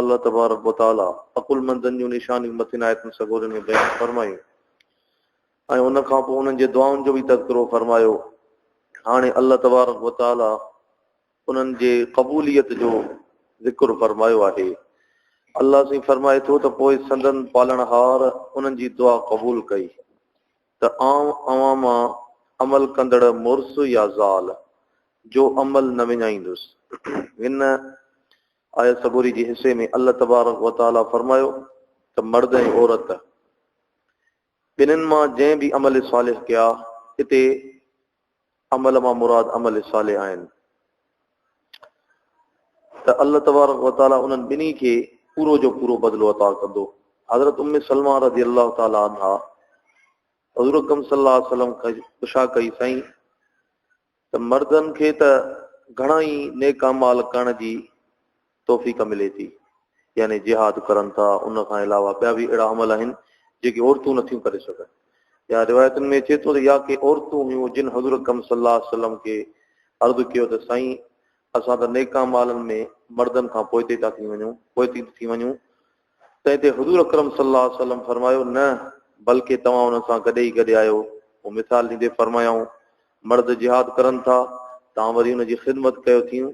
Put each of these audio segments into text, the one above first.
الله تبارڪ و تعاليٰ عقلمندن جون نشانيون مٿين آيتن سڳورين ۾ بيان فرمايون ۽ ان کان پوء انهن جي دعائن جو به تذڪرو فرمايو. هاڻي الله تبارڪ و تعاليٰ انهن جي قبوليت جو ذڪر فرمايو آهي. الله سائين فرمائي ٿو ته پوء سندن پالڻهار انهن جي دعا قبول ڪئي ته آئون اوهان مان عمل ڪندڙ مڙس يا زال جو عمل نه وڃائيندس. هن آيت سڳوري جي حصي ۾ الله تبارڪ و تعالي فرمايو ته مرد ۽ عورت ٻنهين مان جنهن به عمل صالح ڪيا، اتي عمل مان مراد عمل صالح آهن ته الله تبارڪ و تعالي انهن ٻنهي کي پورو جو پورو بدلو عطا ڪندو. حضرت ام سلمه رضي الله تعالي عنها حضور اڪرم صلي الله عليه وسلم کان پڇا ڪئي، سائين! ته مردن کي ته گهڻا ئي نيڪ اعمال ڪرڻ جي توفيق ملي ٿي، يعني جهاد ڪرن ٿا، ان کان علاوه ٻيا به اهڙا عمل آهن، جيڪي عورتون نٿيون ڪري سگهن. يا روايتن ۾ اچي ٿو ته يا ڪي عورتون هيون جن حضور اڪرم صلي الله عليه وسلم کي عرض ڪيو ته سائين! اسان ته نيڪ اعمالن ۾ مردن کان پوئتي ٿا ٿي وڃون، پوئتي ٿي وڃون، تنهن تي حضور اڪرم صلي الله عليه وسلم فرمايو، نه بلڪه توهان انهن سان گڏ ئي گڏ آهيو. پوء مثال ڏيندي فرمايائون، مرد جهاد ڪرن ٿا، توهان وري ان جي خدمت ڪيو ٿيون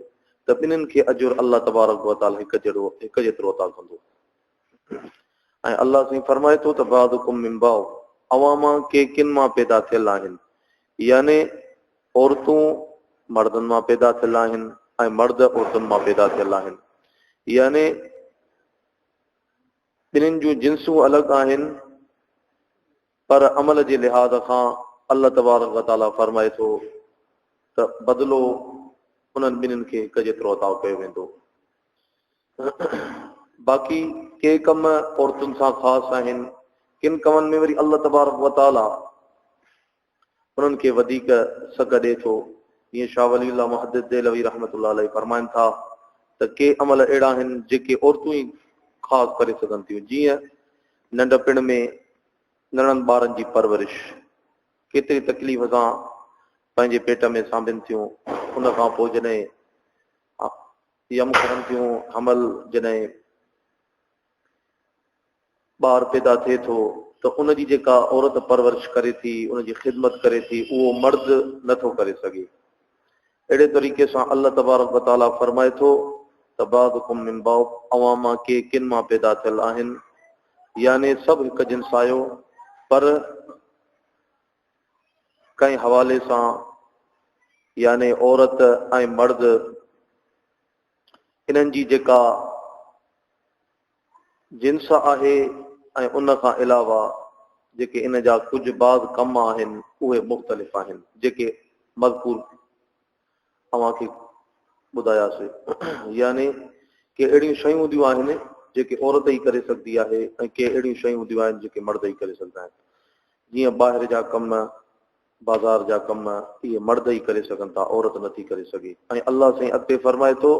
ته ٻنهين کي اجر الله تبارڪ وتعالي هڪ جهڙو، هڪ جيترو، عطا ڪندو. ۽ الله سائين فرمائي ٿو ته بعضڪم من بعض، اوهان مان ڪي ڪن مان پيدا ٿيل آهن. يعني عورتون مردن مان پيدا ٿيل آهن ۽ مرد عورتن مان پيدا ٿيل آهن يعني ٻنهين جون جنسون الڳ آهن پر عمل جي لحاظ کان الله تبارڪ وتعالي فرمائي ٿو ته بدلو انهن ٻنهين کي هڪ جيترو عطا ڪيو ويندو باقي ڪي ڪم عورتن سان خاص آهن ڪن ڪمن ۾ وري الله تبارڪ وتعالي انهن کي وڌيڪ سگهه ڏئي ٿو. جيئن شاهه ولي الله محدث دهلوي رحمة الله عليه فرمائن ٿا ته ڪي عمل اهڙا آهن جيڪي عورتون ئي خاص ڪري سگهن ٿيون جيئن، ننڍپڻ ۾ ننڍڙن ٻارن جي پرورش ڪيتري تڪليف سان پنهنجي پيٽ ۾ سانڀين ٿيون، ان کان پوء جڏهن يم ڪرن ٿيون، حمل جڏهن ٻار پيدا ٿئي ٿو ته ان جي جيڪا عورت پرورش ڪري ٿي، ان جي خدمت ڪري ٿي، اهو مرد نه ٿو ڪري سگهي. اهڙي طريقي سان الله تبارڪ و تعاليٰ فرمائي ٿو ته بعضڪم من بعض اوهان مان ڪي ڪن مان پيدا ٿيل آهن يعني سڀ هڪ جنس آهيو پر ڪنهن حوالي سان يعني عورت ۽ مرد انهن جي جيڪا جنس آهي ۽ ان کان علاوه جيڪي ان جا ڪجهه بعض ڪم آهن اهي مختلف آهن جيڪي مذڪور اوهان کي ٻڌاياسي يعني ڪي اهڙيون شيون هونديون آهن جيڪي عورت ئي ڪري سگهندي آهي ۽ ڪي اهڙيون شيون هونديون آهن جيڪي مرد ئي ڪري سگهندا آهن جيئن ٻاهر جا ڪم بازار جا ڪم اهي مرد ئي ڪري سگهن ٿا عورت نٿي ڪري سگهي ۽ الله سائين اڳتي فرمائي ٿو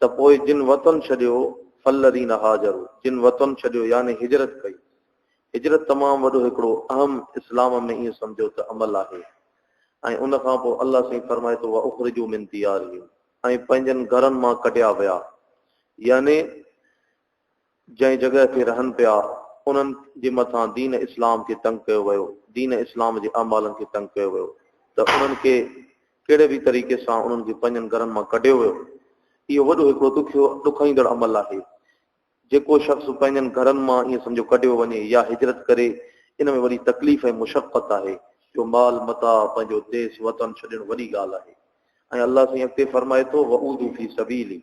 ته پوء جن وطن ڇڏيو فالذين هاجروا جن وطن ڇڏيو يعني هجرت ڪئي هجرت تمام وڏو هڪڙو اهم اسلام ۾ ائين سمجهو ته عمل آهي ۽ ان کان پوء الله سائين فرمائي ٿو واخرجوا من ديارهم ۽ پنهنجن گهرن مان ڪڍيا ويا يعني جنهن جڳهه تي رهن پيا، انهن جي مٿان دين اسلام کي تنگ ڪيو ويو، دين اسلام جي اعمالن کي تنگ ڪيو ويو ته انهن کي ڪهڙي به طريقي سان انهن کي پنهنجن گهرن مان ڪڍيو ويو. اهو وڏو هڪڙو ڏکيو ڏکائيندڙ عمل آهي. جيڪو شخص پنهنجن گهرن مان ائين سمجهو ڪڍيو وڃي يا هجرت ڪري، ان ۾ وڏي تڪليف ۽ مشقت آهي، جو مال متاع، پنهنجو ديس وطن ڇڏڻ وڏي ڳالهه آهي ۽ الله سائين اڳتي فرمائي ٿو، وعودو في سبيلي،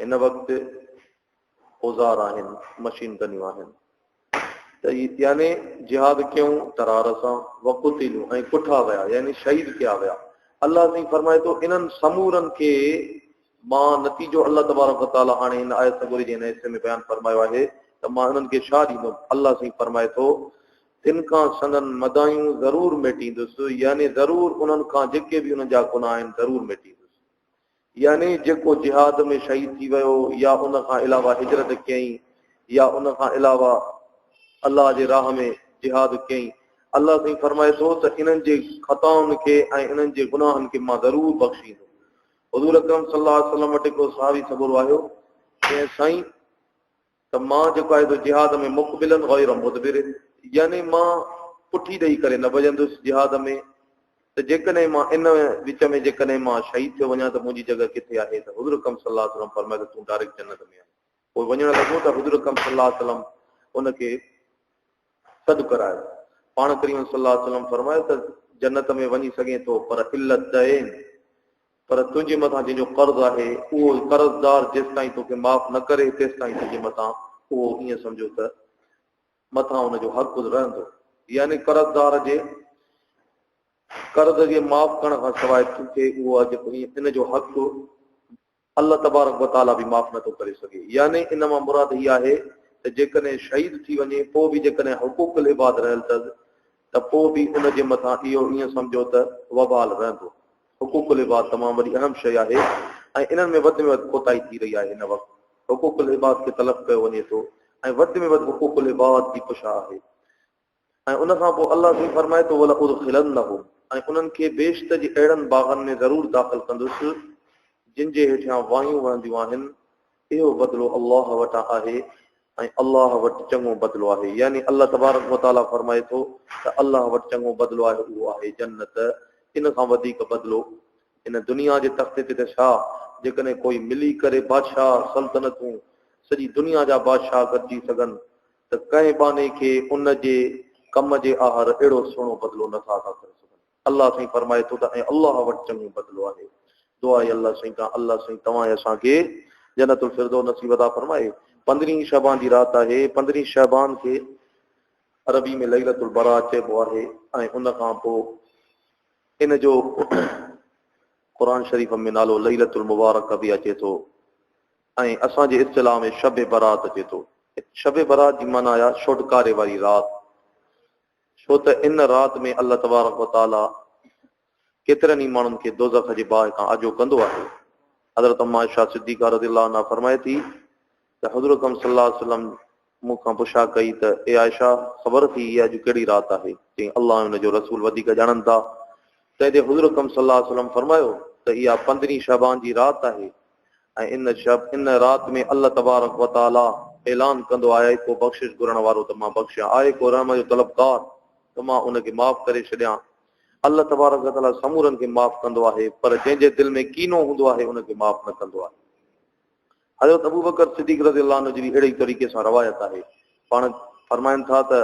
هن وقت اوزار آهن، مشين گنيون آهن ته يعني جهاد ڪيون ترار سان وقتلو ۽ ڪٺا ويا يعني شهيد ڪيا ويا الله سائين فرمائي ٿو انهن سمورن کي مان نتيجو الله تبارڪ وتعالي هاڻي هن آيت سڳوري جي هن حصي ۾ بيان فرمايو آهي ته مان انهن کي شاهه ڏيندم الله سائين فرمائي ٿو تن کان سندن مدايون ضرور ميٽيندس يعني ضرور انهن کان جيڪي به انهن جا گناهه آهن ضرور ميٽيندس يعني جيڪو جهاد ۾ شهيد ٿي ويو يا ان کان علاوه هجرت ڪيائين يا ان کان علاوه الله جي راهه ۾ جهاد ڪيائين الله سائين فرمائي ٿو ته انهن جي خطائن کي ۽ انهن جي گناهن کي مان ضرور بخشيندو حضور اڪرم صلي الله عليه وسلم وٽ هڪڙو صحابي سڳورو آيو چيائين سائين ته مان جيڪو آهي سو جهاد ۾ مقبلا غير مدبر يعني مان پٺي ڏئي ڪري نه ڀڄندس جهاد ۾ ته جيڪڏهن مان ان وچ ۾ جيڪڏهن مان شهيد ٿيو وڃان ته منهنجي جڳهه ڪٿي آهي ته حضور اڪرم صلي الله عليه وسلم فرمايو ته تون ڊائريڪٽ جنت ۾ آهين پوء وڃڻ لڳو ته حضور اڪرم صلي الله عليه وسلم ان کي سڏ ڪرايو پاڻ ڪريم صلي الله عليه وسلم فرمايو ته جنت ۾ وڃي سگهين ٿو پر علت دين پر تنهنجي مٿان جنهن جو قرض آهي، اهو قرضدار جيستائين تو کي معاف نه ڪري، تيستائين تنهنجي مٿان اهو ائين سمجهو ته مٿان ان جو حق رهندو. يعني قرضدار جي قرض جي معاف ڪرڻ کان سواء تو کي اهو اڄ ۽ ان جو حق الله تبارڪ و تعاليٰ به معاف نه ٿو ڪري سگهي. يعني ان مان مراد هي آهي ته جيڪڏهن شهيد ٿي وڃي، پوء به جيڪڏهن حقوق العباد رهيل اٿس ته پوء به ان جي مٿان اهو ائين سمجهو ته وبال رهندو. حقوق العباد تمام وڏي اهم شيء آهي ۽ انهن ۾ وڌ ۾ وڌ کوٽائي ٿي رهي آهي، هن وقت حقوق العباد کي تلف ڪيو وڃي ٿو ۽ وڌ ۾ وڌ حقوق العباد جي پشا آهي ۽ ان کان پوء الله سائين فرمائي ٿو ولادخلنهم ۽ انهن کي بهشت جي اهڙن باغن ۾ ضرور داخل ڪندس جن جي هيٺيان واهيون وهنديون آهن. اهو بدلو الله وٽان آهي ۽ الله وٽ چڱو بدلو آهي يعني الله تبارڪ و تعاليٰ فرمائي ٿو ته الله وٽ چڱو بدلو آهي اهو آهي جنت ان کان وڌيڪ بدلو ان دنيا جي تختي تي ته ڇا جيڪڏهن ڪوئي ملي ڪري بادشاهه سلطنتون سڄي دنيا جا بادشاهه گڏجي سگهن ته ڪنهن ٻانهي کي ان جي ڪم جي آهر اهڙو سهڻو بدلو نٿا ادا ڪري سگهن. الله سائين فرمائي ٿو ته ۽ الله وٽ چڱو بدلو آهي. دعا اي الله سائين کان الله سائين توهان ۽ اسان کي جنت الفردوس نصيب عطا فرمائي. پندرهين شعبان جي رات آهي. پندرهين شعبان کي عربي ۾ ليلة البراة چئبو آهي ۽ ان کان پوء ان جو قرآن شريف ۾ نالو ليلة المبارڪة به اچي ٿو ۽ اسان جي اصطلاح ۾ شب براة اچي ٿو. شب براة جي معنيٰ آهي ڇوٽڪاري واري رات. ڇو ته ان رات ۾ الله تبارڪ و تعالي ڪيترن ئي ماڻهن کي دوزخ جي باهه کان آجو ڪندو آهي. حضرت ام عائشه صديقه رضي الله عنها فرمائي ٿي ته حضور اڪرم صلي الله عليه وسلم مون کان پڇا ڪئي ته اي عائشه خبر اٿئي اها اڄ ڪهڙي رات آهي؟ چيائين الله ۽ ان جو رسول وڌيڪ ڄاڻن ٿا. تنهن تي حضور اڪرم صلي الله عليه وسلم فرمايو ته اها پندرهين شعبان جي رات آهي ۽ ان شب، ان رات، ۾ الله تبارڪ و تعاليٰ اعلان ڪندو، آء ڪو بخشش گهرڻ وارو ته مان بخشيان، آء ڪو رحم جو طلبگار ته مان ان کي معاف ڪري ڇڏيان. الله تبارڪ و تعاليٰ سمورن کي معاف ڪندو آهي، پر جنهن جي دل ۾ ڪينو هوندو آهي، ان کي معاف نه ڪندو آهي. حضرت ابوبڪر صديق رضي الله عنه جي به اهڙي ئي طريقي سان روايت آهي، پاڻ فرمائن ٿا ته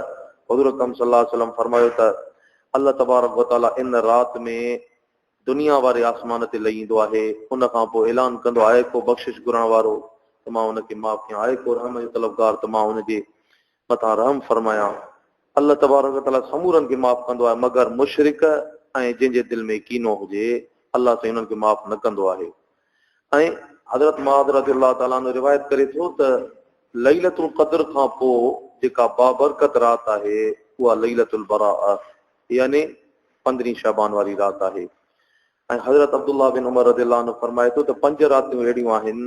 حضور اڪرم صلي الله عليه وسلم فرمايو ته الله تبارڪ و تعاليٰ ان رات ۾، دنيا واري آسمان تي لھي ايندو آھي، ان کان پوء اعلان ڪندو آھي، ڪو بخشش گھرڻ وارو ته مان ان کي معاف ڪيان، ڪو رحم جو طلبگار ته مان ان جي مٿان رحم فرمايان. الله تبارڪ و تعاليٰ سمورن کي معاف ڪندو آھي مگر مشرڪ ۽ جنھن جي دل ۾ ڪينو ھجي، الله سائين انھن کي معاف نه ڪندو آھي ۽ حضرت معاذ رضي الله تعاليٰ عنه روايت ڪري ٿو ته ليلة القدر کان پوء جيڪا بابرڪت رات آھي اھا ليلة البراءة يعني پندرهين شعبان واري رات آهي ۽ حضرت عبدالله بن عمر رضي الله عنه فرمائي ٿو ته پنج راتيون اهڙيون آهن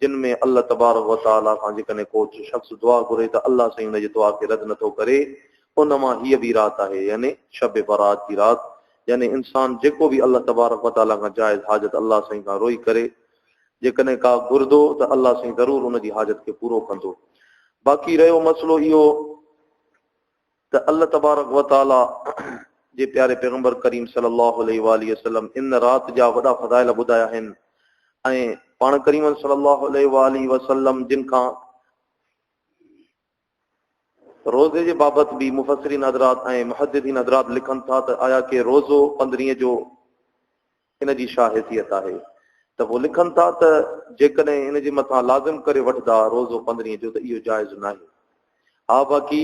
جن ۾ الله تبارڪ وتعالي کان جيڪڏهن ڪو شخص دعا گهري ته الله سائين ان جي دعا کي رد نٿو ڪري ان مان هيء به رات آهي يعني شب برات جي رات يعني انسان جيڪو به الله تبارڪ وتعالي کان جائز حاجت الله سائين کان روئي ڪري جيڪڏهن ڪا گهردو ته الله سائين ضرور ان جي حاجت کي پورو ڪندو باقي رهيو مسئلو اهو ته الله تبارڪ و تعالي جي پياري پيغمبر ڪريم صلي الله عليه واٰله وسلم ان رات جا وڏا فضائل ٻڌايا آهن ۽ پاڻ ڪريم صلي الله عليه واٰله وسلم جن کان روزي جي بابت به مفسرين حضرات ۽ محدثين حضرات لکن ٿا ته آيا ڪي روزو پندرينء جو ان جي ڇا حيثيت آهي ته پوء لکن ٿا ته جيڪڏهن ان جي مٿان لازم ڪري وٺدا روزو پندرهين جو ته اهو جائز ناهي ها باقي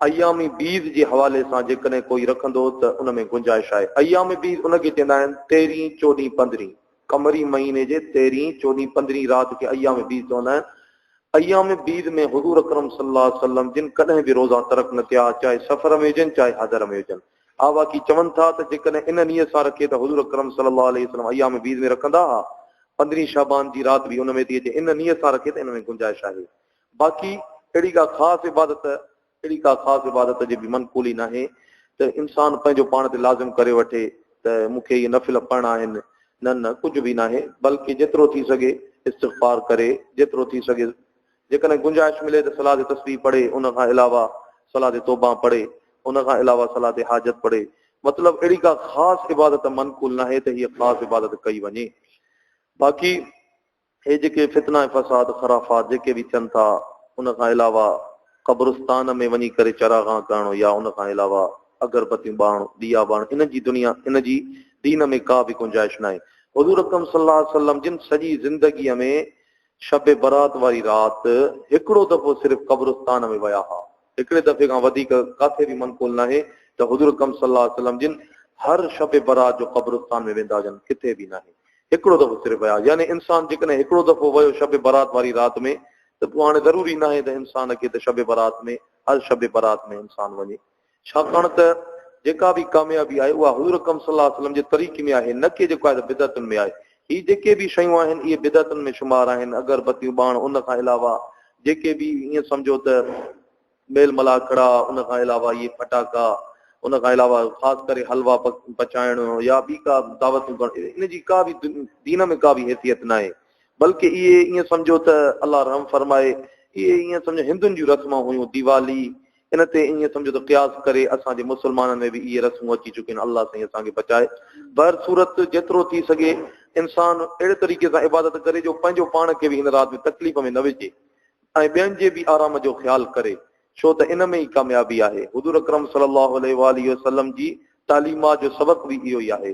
ايام بيض جي حوالي سان جيڪڏهن ڪوئي رکندو ته ان ۾ گنجائش آهي ايام بيض ان کي چئندا آهن تيرهين چوڏهين پندرهين قمري مهيني جي تيرهين چوڏهين پندرهين رات کي ايام بيض چوندا آهن ايام بيض ۾ حضور اڪرم صلي الله عليه وسلم جن ڪڏهن به روزا ترڪ نه ڪيا چاهي سفر ۾ هجن چاهي حضر ۾ هجن آواڪي چون ٿا ته جيڪڏهن ان نيت سان رکي ته حضور اڪرم صلي الله عليه وسلم ايام بيض ۾ رکندا ها، پندرهين شعبان جي رات به ان ۾ ٿي اچي، ان نيت سان رکي ته ان ۾ گنجائش آهي، باقي اهڙي ڪا خاص عبادت، اهڙي ڪا خاص عبادت جي به منقولي ناهي ته انسان پنهنجو پاڻ تي لازم ڪري وٺي ته مون کي اهي نفل پڙهڻا آهن، نه نه ڪجهه به ناهي، بلڪه جيترو ٿي سگهي استغفار ڪري، جيترو ٿي سگهي جيڪڏهن گنجائش ملي ته صلاة تسبيح پڙهي ان کان علاوه صلاة توبان پڙهي ان کان علاوه صلاة حاجت پڙهي مطلب اهڙي ڪا خاص عبادت منقول ناهي ته هيء خاص عبادت ڪئي وڃي باقي هي جيڪي فتنا ۽ فساد خرافات جيڪي به ٿين ٿا ان کان علاوه قبرستان ۾ وڃي ڪري چراغان ڪرڻ يا ان کان علاوه اگربتيون ٻارڻ ڏيئا ٻارڻ ان جي دنيا ان جي دين ۾ ڪا به گنجائش ناهي حضور اڪرم صلي الله عليه وسلم جن سڄي زندگي ۾ شب برات واري رات هڪڙو دفعو صرف قبرستان ۾ ويا ها، هڪڙي دفعي کان وڌيڪ ڪاٿي به منقول ناهي ته حضور اڪرم صلي الله عليه وسلم جن هر شب برات جو قبرستان ۾ ويندا هجن، ڪٿي به ناهي، هڪڙو دفعو صرف ويا، يعني انسان جيڪڏهن هڪڙو دفعو ويو شب برات واري رات ۾ ته پوء هاڻي ضروري ناهي ته انسان کي ته شب برات ۾ هر شب برات ۾ انسان وڃي. ڇاڪاڻ ته جيڪا به ڪاميابي آهي اها حضور اڪرم صلي الله عليه وسلم جي طريقي ۾ آهي نه ڪي جيڪو آهي ته بدعتن ۾ آهي. هي جيڪي به شيون آهن اهي بدعتن ۾ شمار آهن اگر بتيون ٻاڻ ان کان علاوه جيڪي به ائين سمجهو ته ميل ملاح ڪڙا ان کان علاوه اهي ڦٽاڪا ان کان علاوه خاص ڪري حلوا پچائڻ يا ٻي ڪا دعوتون ڪرڻ ان جي ڪا به دين ۾ ڪا به حيثيت نه آهي بلڪ اهي ائين سمجهو ته الله رحم فرمائي اهي ائين سمجهو هندن جون رسمون هيون ديوالي ان تي ائين سمجهو ته قياس ڪري اسان جي مسلمانن ۾ به اهي رسمون اچي چڪيون آهن الله سائين اسان کي بچائي بهر صورت جيترو ٿي سگهي انسان اهڙي طريقي سان عبادت ڪري جو پنهنجو پاڻ کي به هن رات ۾ تڪليف ۾ نه وجهي ۽ ٻين جي به آرام جو خيال ڪري ڇو ته ان ۾ ئي ڪاميابي آهي حضور اڪرم صلي الله عليه واٰله وسلم جي تعليمات جو سبق به اهو ئي آهي